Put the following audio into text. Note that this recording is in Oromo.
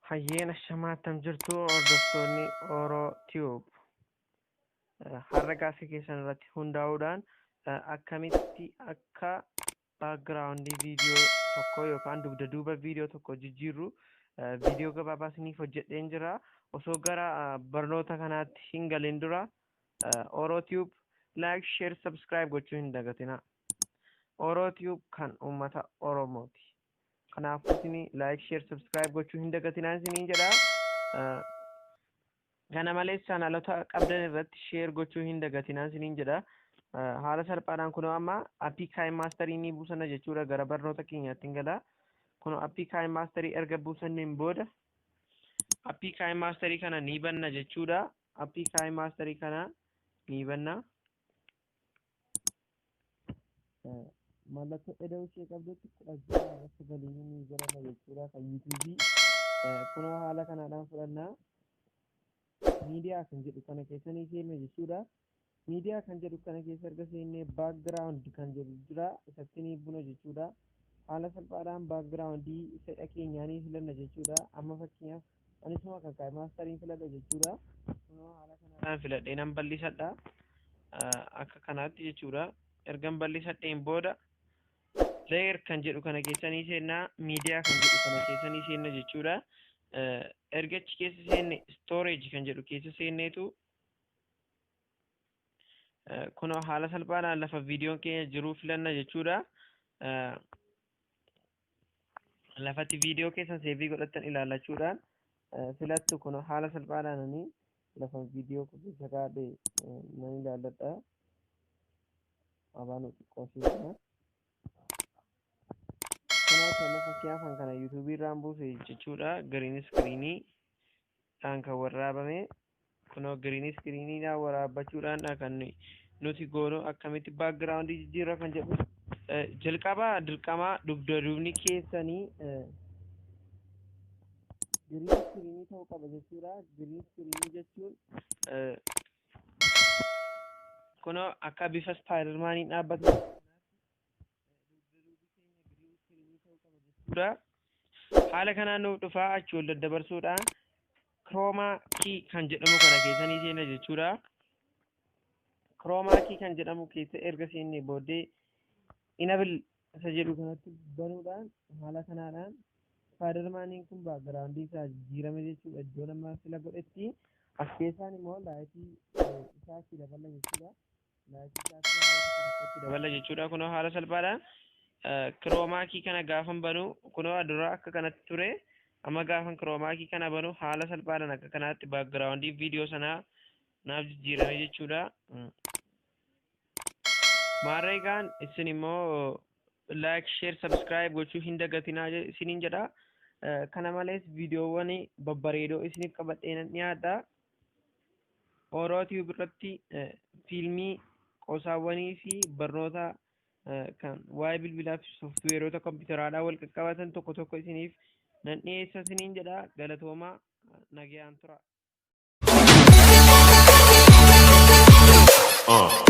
Hayyeen ashamaa attam jirtu hordoftoonni Oro Tube. Har'a gaaffii keessan irratti hundaa'uudhaan akkamitti akka background video tokko yookaan dugda duuba video tokko jijjiirru video gabaabaa isiniif hojjedheen jira osoo gara barnoota kanaatti hin galin dura orotube like share subscribe gochuu hin dagatina orotube kan uummata oromooti kanaafuu isin like share subscribe gochuu hin dagatinaa isiniin jedha Kana malees chaanalota qabdan irratti share gochuu hin dagatinaa isiniin jedha. Ah, Haala salphaadhaan kunoo amma appii Kaayin Maastarii ni buusana jechuudha gara barnoota keenyaatti hin gala. Kunoo appii Kaayin Maastarii erga buusanneen booda appii Kaayin Maastarii kana ni banna jechuudha. Appii Kaayin Maastarii kana ni banna. mallattoo eda'uu ishee qabdutti kudha ja'a irratti galiin ni jedhama jechuudha kan yuutuubii kunoo haala kanaadhaan fudhannaa miidiyaa kan jedhu kana keessa ni seenna jechuudha miidiyaa kan jedhu kana keessa erga seennee baakgiraawundi kan jedhu jira isatti ni buna jechuudha haala salphaadhaan baakgiraawundii fedha keenyaa ni filanna jechuudha amma fakkeenyaaf Anis immoo akka kaa'e maastariin filadha jechuudha. Kunoo haala kanaan filadhee nan bal'isadha. Akka kanaatti jechuudha. Ergan bal'isadheen booda layer kan jedhu kana keessa ni seenna, media kan jedhu kana keessa ni seenna jechuudha. Erga achi keessa seenne storage kan jedhu keessa seenneetu kunoo haala salphaadhaan lafa viidiyoon keenya jiru filanna jechuudha. lafatti viidiyoo keessan seevii godhattan ilaalachuudhaan filattu kun haala salphaadhaan ani lafa viidiyoo keessa kaa'e nan ilaalladha. Abaan xiqqoo seena. Kanaaf amma fakkeenyaaf kan kana yuutuubii irraan buuse jechuudha. Giriin iskiriinii dhaan kan warraabame Kunoo giriin iskiriiniidhaan waraabbachuudhaandha kan nuyi nuti goonu akkamitti baakgiraawundii jijjiirra kan jedhu eh, jalqaba dirqamaa dugda duubni keessanii eh, giriin iskiriinii ta'uu qaba jechuudha. Giriin iskiriinii jechuun eh, kunoo akka bifa ispaayidarmaaniin dhaabbatu jechuudha. Haala kanaan nuuf dhufaa achi ol daddabarsuudha. Kiroomaa kii kan jedhamu kana keessa ni seena jechuudha. Kiroomaa kii kan jedhamu keessa erga seennee booddee inabil isa jedhu kanatti banuudhaan haala kanaadhaan faadarmaaniin kun baagiraawundii isaa jijjiirame jechuudha. Iddoo nama sila godhetti as keessaan immoo laayitii isaa itti daballa jechuudha. itti daballa jechuudha. Kunoo haala salphaadhaan kiroomaakii kana gaafan banu kunoo dura akka kanatti ture amma gaafan kiroomaakii kana banu haala salphaadhaan akka kanaatti baakgiraawundii viidiyoo sanaa naaf jijjiirame jechuudha. Maarree egaan isin immoo laayik sheer sabskiraayib gochuu hin dagatinaa isiniin jedha. Kana malees viidiyoowwan babbareedoo isiniif qabadhee nan dhiyaadha. Oro Tube irratti eh, fiilmii, qosaawwanii fi barnoota eh, kan waa'ee bilbilaa fi sooftiweerota kompiitaraadhaan wal qaqqabatan tokko tokko isiniif nan dhiyeessa isiniin jedha galatoomaa eh, nagayaan tura. Uh.